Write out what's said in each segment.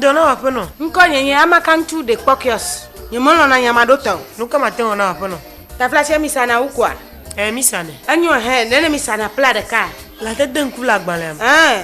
Dɔnɔ aƒenɔ. Ŋkɔ nye nye amakantu de kpɔkiɔs. Nye mɔlɔ na nyama ɖo tɔ. Nuka ma tɛwɔ na aƒenɔ. Tafla se mi sana wu kua. Ɛ mi sanɛ. Enyo hɛ nene mi sana pla ɖeka. La te de ŋku la gbalɛ. Ɛ.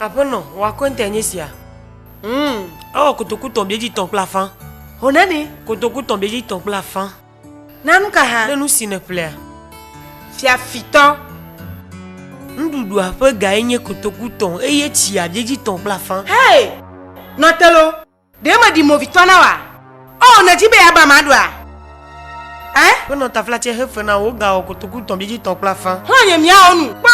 Aƒenɔ, wò akɔntae nye sia. Mm, ewɔ kotoku tɔn biedzi tɔn kple afã. Ho nane. Kotoku tɔn biedzi tɔn kple afã. Na nu ka hã? Ne nu si nèƒlea. Fiafitɔ. Nuɖuɖua ƒe gae nye kotoku tɔn eye tsia biedzi tɔn kple afã. Hey! Nɔ te loo! Ɖe meɖi movitɔ na wòa? Ɔ, nèdi be yeaba ame aɖoa? Ẽ? Ƒe nɔtaflatse he fe na wò, wogawɔ kotoku tɔ̃ biedzi tɔ̃ kple afã. Xlɔ̃ nye miawo nu kpɔ.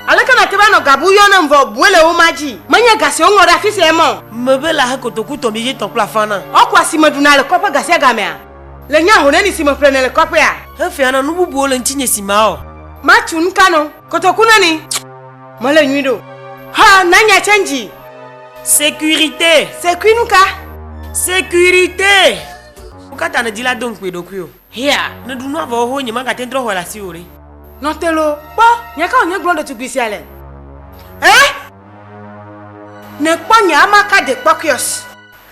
Aleke nàte va nɔ ga bu yɔ nam vɔ o, bue le wo ma dzi. Menye ga si woŋlɔ ɖe afi sia ye ma o. Mebe la he kotoku tɔ̃ biedzi tɔ̃ kple afã na. Ɔ, kua si meɖuna le kɔƒe gasiagamea. Le nye ahoneni si meƒlena le kɔƒea. Hefeana nu bubuwo le ŋutinye si ma ɔ. Matu nu ka nɔ? Kotoku na ni. Mele nyui ɖo. Ha, na nya change. Sécurité. Sécurité nu ka? Sécurité. Wo katã ne di la do ŋkui ɖokui o. Hea, ne ɖu nua vɔ ho nye ma gate trɔ xɔe le asi o ɖe. Nɔtelo, kpɔ, nya ka wònye gblɔ ɖetugbui sia le? Eh? Ne kpɔ nye ama ka de kpɔkuios.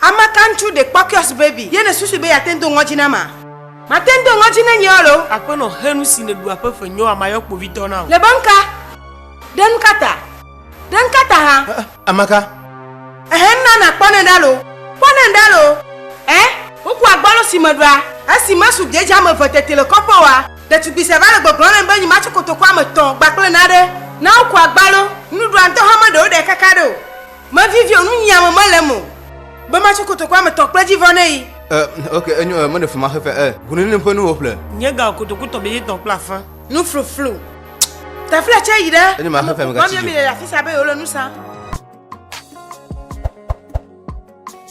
Ame ka ŋutsu ɖe kpɔ kiosk baby ye nèsusu be yeate ŋu do ŋɔdzi na ma? Mate ŋu do ŋɔdzi na nyea loo? Aƒenɔ, xe nu si nèɖu aƒe ƒe nyoa mayɔ kpovitɔ na wò. Le be ŋka? Ɖe nu ka ta? Ɖe ŋka ta hã? Ɛ, ame ka? Ɛhɛ, ŋna nàkpɔ nɛ ɖa loo. Kpɔ nɛ ɖa loo. Ɛ, wokua gbɔlo si meɖɔa. Esi mesu dze dzea me eve teti le kɔƒe oa, ɖetugbui sia va le gbɔgblɔm nam be nyi matso kotoku ame etɔ̃ gba kple naɖe. Na wokua gbalo. Nuɖuɖua ŋutɔ hã meɖe woɖae kaka ɖe o. Mevivi o, nunyiame mele eme o. Be matso kotokoa me tɔ kple dzivɔ ne yi. E, ok, enyo, e, mele fima xefe, e. Ŋununim ƒe nuwo ƒle. Nye ga o kotoku tɔ be yetɔ kple afã. Nu fluflu. Tafla tse yi ɖe. Enyo ma xefe me gatsi dzi. Mami mi le afisa be yole nu sa.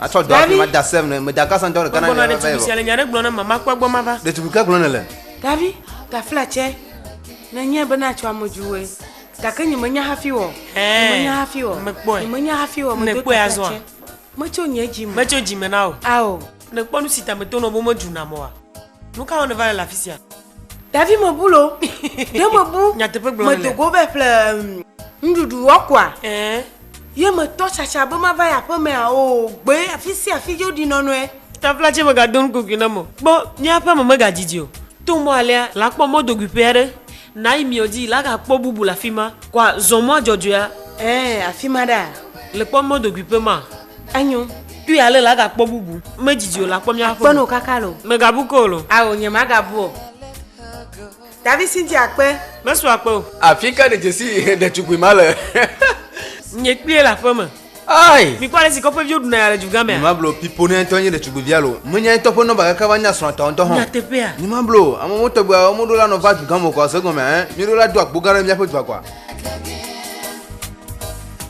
Atsɔ dɔ afi ma da sɛm ne me da gasa dɔ ɖeka na ne va yi vɔ. Le nya ɖe gblɔ ne mama kpɔ gbɔ ma va. Ɖetugbui ke gblɔ ne le. Davi tafla tsɛ ne nye be na tsɔ ame juwe gake nye me nya hafi wɔ. Nye me nya hafi wɔ. Me kpɔe. Nye me nya hafi wɔ. Me do tafla tsɛ. Me tso nye dzi me. Me tso dzi me na o. Ao. Ne kpɔ nu si ta me to nɔ bo me dzu na mɔ wa. Nu ka wɔ ne va le afisia. Davi me bu lo. Ɖe me bu. Nyateƒe gblɔ le. Medogo vɛ ƒle nuɖuɖu wɔkua. Ɛɛ. Ye me tɔ tsatsa be ma va ya ƒe mea o gbe afi si afi yo ɖi nɔnɔe. Tafla tse me ga don kugui na mo. Kpɔ mia ƒe me me ga didi o. To mɔ alea la kpɔ mɔ dogui ƒea ɖe. Na yi miɔ dzi la ga kpɔ bubu le afi ma. Kɔa zɔn mɔa dzɔdzɔea. Ɛɛ afi ma ɖa. Le kpɔ mɔ dogui ƒe ma. Enyo. Tu ya le la ga kpɔ bubu. Me jiji o la kpɔ mia kpɔ. Kpɔ no kaka lo. Me ga bu ko lo. Awo nye ma ga bu o. Davi sinti akpe. Me su akpe o. Afi ka de jesi de tukui ma le. Nye kpie la fe me. Ai. Mi kwa le si kɔƒe vio duna ya le juga me. Ma blo pipo ne to nye de tukui via lo. Me nya to po no ba kaka va nya sra to to ho. Nya te pe a. Ni ma blo. Amo mo to gba mo do la no va juga mo ko se gome eh. Mi do la do akpo gare mi apo dwa kwa.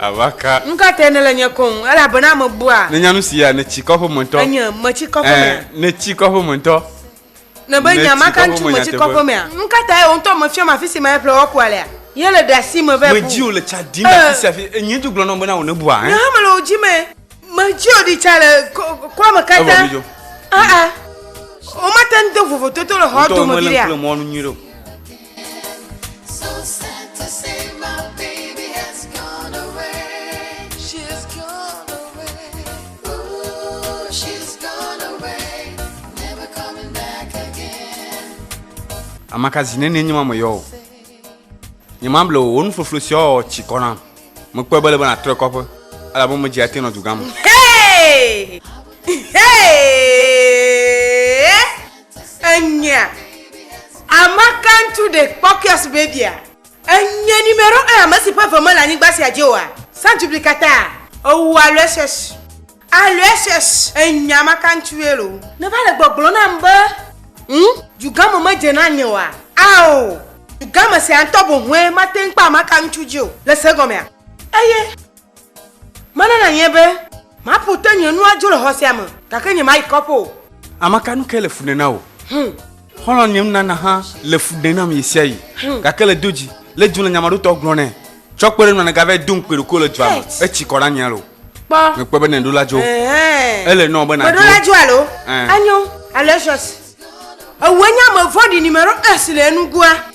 Abaka. Nu ka tae nèle nye kɔ ŋu elabena mebua? Nènya nu sia, nètsi kɔ ƒe me ŋutɔ. Enye, metsi kɔ ƒe mea? Ɛ̃, nètsi kɔ ƒe me ŋutɔ. Nèbe nya ma ka ŋuti metsi kɔ ƒe mea? Nu ka tae wò ŋutɔ mèfiɔm afi si mele ƒle woakua lea? Ye le ɖeasi me be bu. Medi wò le tsa dim le afi sia afi. Enye ŋutɔ gblɔ na wò bena wò nèbua hã. Nye hã mele wò dzi me. Medi wò ɖi tsa le kɔa me katã. Evɔ midzo. Aa, womate ŋu de vovototo le xɔa dome viɖea? Wò ŋutɔ mele ŋku le mɔa nu nyuie ɖe o. Amakazi nene nye ma me yɔ o. Nye ma ble wo nufloflo si ɔ tsi kɔ nam. Me kpɔe be le be na trɔ kɔƒe. Ala bo me dzi ate nɔ dugã me. Hey! Hey! Enyea, ama ka ŋutsu ɖe kpɔ kiosk babia? Enyea, numero un ame si ƒe eve mele anyigba sia dzi oa? Sans duplicata? Ou a le ss. A le ss. Enyea, ama ka ŋutsue loo? Ne va le gbɔgblɔ nam be. Ŋ, dugãme me dze na nye oa? Ao, dugãme sia ŋutɔ boŋue mate ŋu kpɔ ama ka ŋutsu dzi o. Le se gɔmea? Eye. Mena nanye be maƒo te nye nu adzo le xɔ sia me, gake nyemayi kɔƒe o. Ame ka nu ke le fu ɖem na wò? Hum. Xɔlɔ̃ nye nunana hã le fu ɖem nam ɣesiaɣi, Hum. gake le do dzi le dzum le nyamaɖotɔ gblɔ nɛ. Tsɔ kpe ɖe ŋu nègava do ŋukpe ɖokui le dua me Ets. etsi kɔ ɖe anyi alo Kpɔ. mèkpɔe be nèɖo la dzo. Ɛ̃. Ele nɔ be nàdzo. Mèɖo la dzo alo? Ɛ̃. Enyo. Alo Ets. Ewɔe nye ame vɔ̃ɖi nimeɖo Ets le enugoa.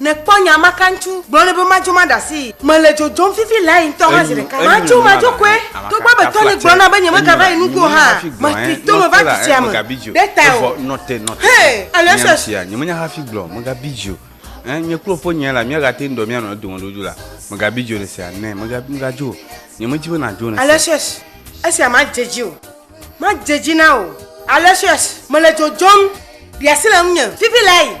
Nèkpɔ nya ma kaŋtsu gblɔ nɛ be madzo maɖe asii. Mele dzodzom fifi lae ŋutɔ hã zi ɖeka. Madzo madzo koe, togbɔ be tɔnye gblɔ nam be nyemegava yi nugo o hã, matri to me va du sia me ɖe tawò. Hey! Aloysius, Esia madze edzi o. Madze edzi na wò. Aloysius, Mele dzodzom, ɖi asi le ŋunye fifi lae.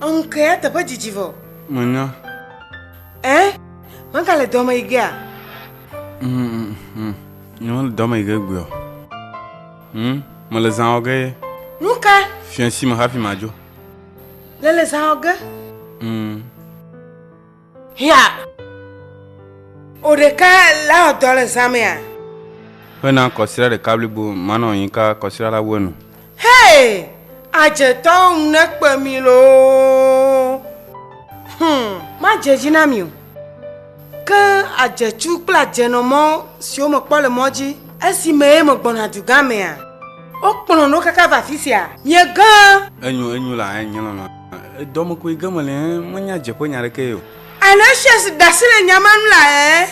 Ŋkee eteƒe didi vɔ. Menya. Ɛ? Megale dɔ me yi gea? Nyemele dɔ me yi ge gbeɔ. Hm, mele zã wɔ ge ye. Nu ka? Fiãsi me hafi madzo. Le le zã wɔ ge? Hm. Hiã! O ɖeka la ɔ dɔ le zãmɛa. Ƒe na kɔsira ɖeka blibo manɔ anyi ka kɔsira la wu enu. Hey! Adzetɔ ŋu ne kpe mi loo. Hum. Ma dze dzi na mi o. Ke adzetsu kple adzenɔ mɔ siwo me kpɔ le mɔ dzi esi me ye me gbɔna dugã mea. O kplɔ no kaka va fisia. Mie gã. Enyo, enyo la, eh, nye lɔlɔ. Dɔmekui ge mele ẽ, menya dzeƒenya ɖeke ye o. Aloysius da asi le nya ma ŋu la ẽ.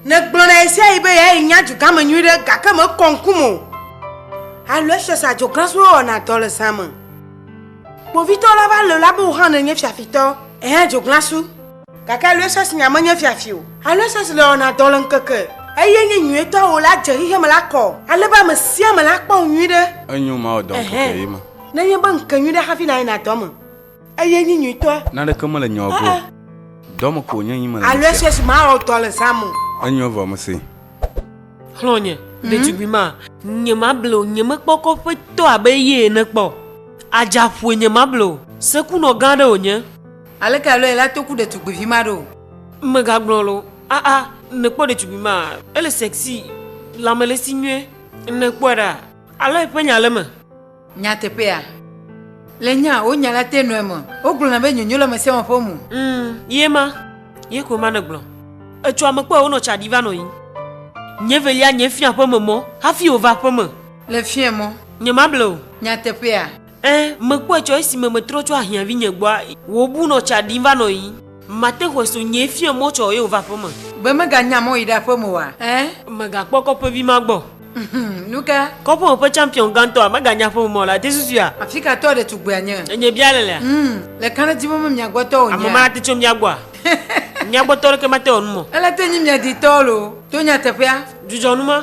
Negblɔ na ɣesiaɣi be yae nya dugãme nyuiɖe gake mekɔ ŋkum o. Aloysius adzoglasue wɔna dɔ le zã me. Kpovitɔ la va lɔ̃e la be wò hã nènye fiafitɔ, èhe adzoglasu. Gake Aloysius nya menye fiafi o. Aloysius le wɔna dɔ le ŋkeke. Eye nye nyuietɔ wò la dze xexeame la kɔ ale be ame sia ame la kpɔ wò nyuiɖe. Enyo mawɔ dɔ ŋkeke ɣi me. Nenye be ŋke nyui ɖe hafi nayina dɔ me eye nyi nyuitɔe. Naneke mele nyɔ go o. Dɔ me ko wònye yim mele nusia. Alo eshiesi mawɔ dɔ le zã me o. Enyɔ vɔ mese. Xlɔ̃nye, ɖetugbui ma. Nyemable o, nyemekpɔ kɔƒetɔ abe eye ene kpɔ o. Adzaƒoe nyemable o. Sekunɔ gã aɖe wònye. Aleke alo yela to ku ɖetugbuivi ma ɖo? Megagblɔ lo. Aa, nèkpɔ ɖetugbui ma? Ele sexy, lãme le esi nyuie. Nèkpɔe ɖa? Alo eƒe nya le eme? Nyateƒea? Le nya wò nya la te nɔe me, wogblɔna be nyonyo le ame sia ame ƒe mo. Ŋ, ye ma, ye koe ma nègblɔ. Etsɔ ame kpɔe wònɔ tsa ɖi va nɔ yiyim. Nye velia nye fia ƒe me mɔ hafi wòva aƒe me. Le fia mɔ. Nyemable o. Nyateƒea? Ẽ, mekpɔe tsɔ esime metrɔ tso ahiãvinye gbɔa, wòbu nɔ tsa ɖim va nɔ yiyim. Mate xɔe so nyee fia mɔ tsɔ eye wòva aƒe me. Be meganya mɔ yi ɖe aƒe me oa? Ẽ. Megakpɔ kɔƒevi ma gbɔ. Nu ka? Kɔpuwo ƒe tsampiɔn gãtɔa meganya ƒe mɔ le ati susuea? Afi ka tɔ ɖetugbea nye? Enye bia le lea? Ŋm, le ka ne di be mia gbɔ tɔ wònyea? Ame ma ate tso mia gbɔa? Mia gbɔ tɔ ɖeke mate wɔ nu mɔ. Ele te nyi mia di tɔ loo. To nyateƒea. Dzudzɔ nu ma.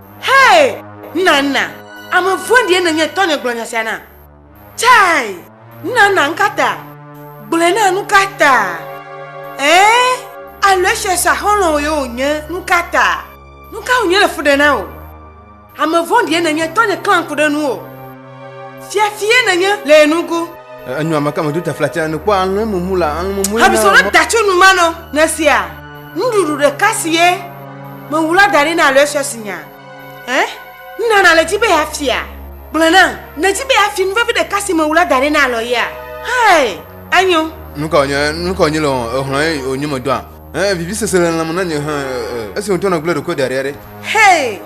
Hey! Nana, ame vɔ̃ɖie nènye tɔnye gblɔ nya sia na. Chai! Nana, nukata? Gblɔe na nukata? Ɛɛ, Aloysiusa xɔlɔ̃wò ye wònye, nukata? Nuka wònye le fu ɖe na wò? Ame vɔ̃ɖie nènye tɔnye klã ŋku ɖe nuwò. Fiafie nènye le ye nugo. Enyo ame ka medo tafla tsɛ ne kpɔ alẽ mumu la alẽ mumu. Habisɔ ɖe datsu nu ma nɔ ne sia nuɖuɖu ɖeka si ye mewu la da ɖi na alɔe sue si nya. Ɛ nna nale dzi be ya fia. Gblɔ na ne dzi be ya fi nuvevi ɖeka si mewu la da ɖi na alɔ yea. Hey, enyo. Nuka wònye nuka wònye le ehlɔe wònye medɔa. Ɛ vivi sese le lãme na nye hã esi wòtɔ nɔ gblẽ ɖokoe da ɖi aɖe. Hey,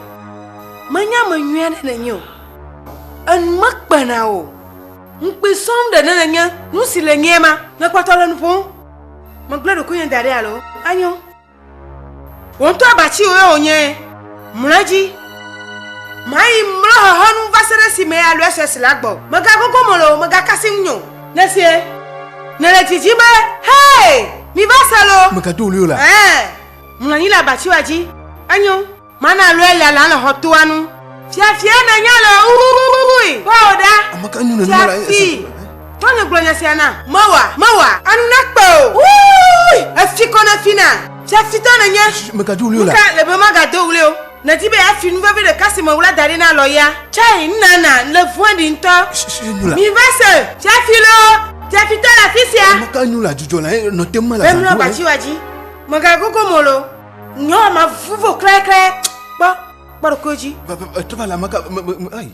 menya ame nyuie aɖe nènye o. Enu mekpe na o. Ŋukpui sɔm ɖe ne nenye nu si le nyee ma. Ne kpɔtɔ le nu ƒom, megblẽ ɖokuinye da ɖi alo? Enyo. Wò ŋutɔ abatiwoe wònye. Mlɔ edzi. Mayi mlɔ xexe nu va se ɖe esime Aloysius la gbɔ. Megagogo mo loo, megakasi ŋunye o. Nèsee? Nèle didim be, Hee! Miva se loo! Mègado ɣli o la? Ɛ̃, mlɔ anyi le abatiwoa dzi. Enyo. Mana lɔe ya la le xɔ toa nu. Fiafia me nya le wuwuwuwui. Kpɔo ɖa. Ame ka nyɔnu ma la esi. Tɔ ne gblɔ nya sia na. Mewa, mewa, anu nakpe o. Wuwuwui. Efi kɔ ne fi na. Fiafitɔ ne nye. Meka do wuli o la. Nuka le be maga do wuli o. Ne di be ya fi nu vevi ɖe kasi me wula da ɖi na lɔ ya. Chai, nna na, le vue ɖi ntɔ. Mi va se, fiafi lo, fiafitɔ la fisia. Ame ka nyɔnu la dzudzɔ la, nɔ te me la. Bemlɔ bati wa dzi, mega gogo mo lo. Nyɔ ma vuvo klɛklɛ. Kpɔ kpɔ ɖokui dzi. Eto va le amaka ayi.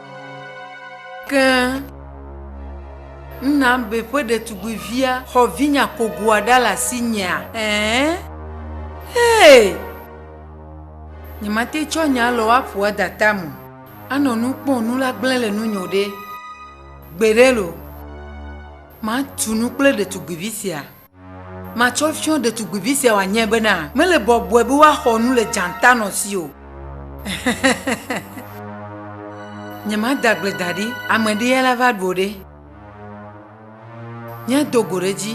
Ke Nnambe ƒe ɖetugbivia xɔ vinya kogoa ɖa le asinyea? Ɛ̃. Hey! Nyemate tsɔ nya alɔwo aƒo ada tam o. Anɔ nu kpɔm nu la gblẽ le nunye o ɖe! Gbeɖe loo, matu nu kple ɖetugbivi sia. Matsɔ fyɔ ɖetugbuivi sia wòanye bena mele bɔbɔe be woaxɔ nu le dzãtanɔ si o. Nyemada agble da ɖi, ame ɖee la va ɖu o ɖe? Míado go ɖe edzi.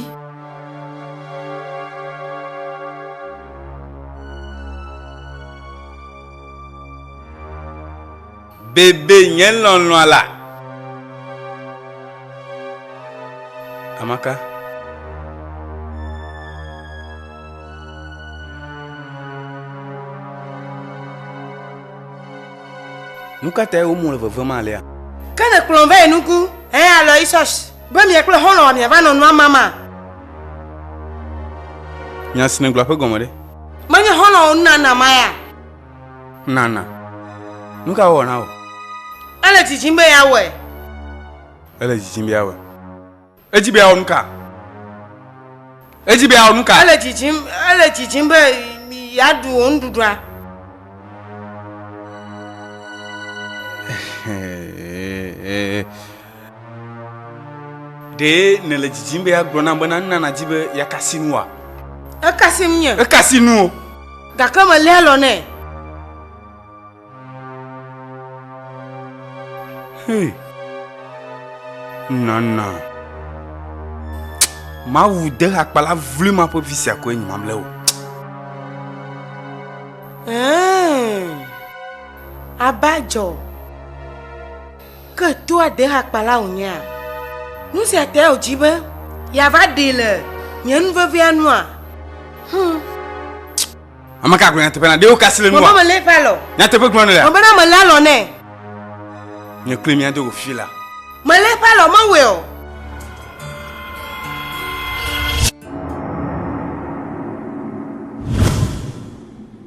Bebe nye lɔlɔ̃a la. Amaka. Nu ka tae womu le vevem alea? Ke ne kplɔm va yi nuku, hẽ Aloysius, be mia kple xɔlɔ̃a miava nɔ nua mama. Nya si nègblɔa ƒe gɔme ɖe? Menye xɔlɔ̃wò nunana ma ya? Nana, nu ka wɔ na wò? Ele dzidzim be yeawɔe. Ele dzidzim be yeawɔe. Edzi be yeawɔ nu ka? Edzi be yeawɔ nu ka? Ele dzidzim, ele dzidzim be yeaɖu wò nuɖuɖua. Ɖe nèle didim be yeagblɔ nam bena nu na nàdi be yeakasi nua? Ekasi ŋunye. Ekasi nuwò. Gake mèlé alɔ nɛ. Hey. Nana. Mawu de hakpala vlui ma ƒe vi sia koe nyi mamlɛ o. Ɛɛ. Abajɔ. Ke toa dehakpala wònyea? Nu sia tea wòdzi be yeava ɖee le nye nu vevia nua? Hum. Ame ka gblɔ nyateƒe na? Ɖe wokasi le nua? Mama mele eƒe alɔ. Nyateƒe gblɔ nele. Mama na mele alɔ nɛ. Nye kloe mia do go fi la. Mele eƒe alɔ mewɔe o.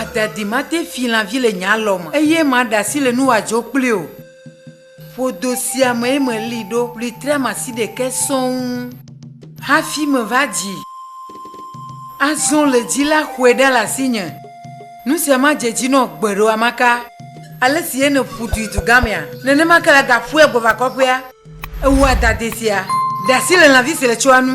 Adadi mate fi lãvi le nye alɔ me, eye maɖe asi le nu wòadzo kpli o. Ƒodo sia mee meli ɖo ɣletriamasi ɖekɛ sɔŋ hafi meva dzi. Azɔ le dzi la xɔe ɖa le asinye. Nu sia madze edzi nɔ gbeɖewamaka. Ale si ye nèƒu dui dugamea, nenema ke la gaƒue gbɔva kɔƒea. Ewɔa dade sia ɖe asi le lãvi si le tsɔa nu.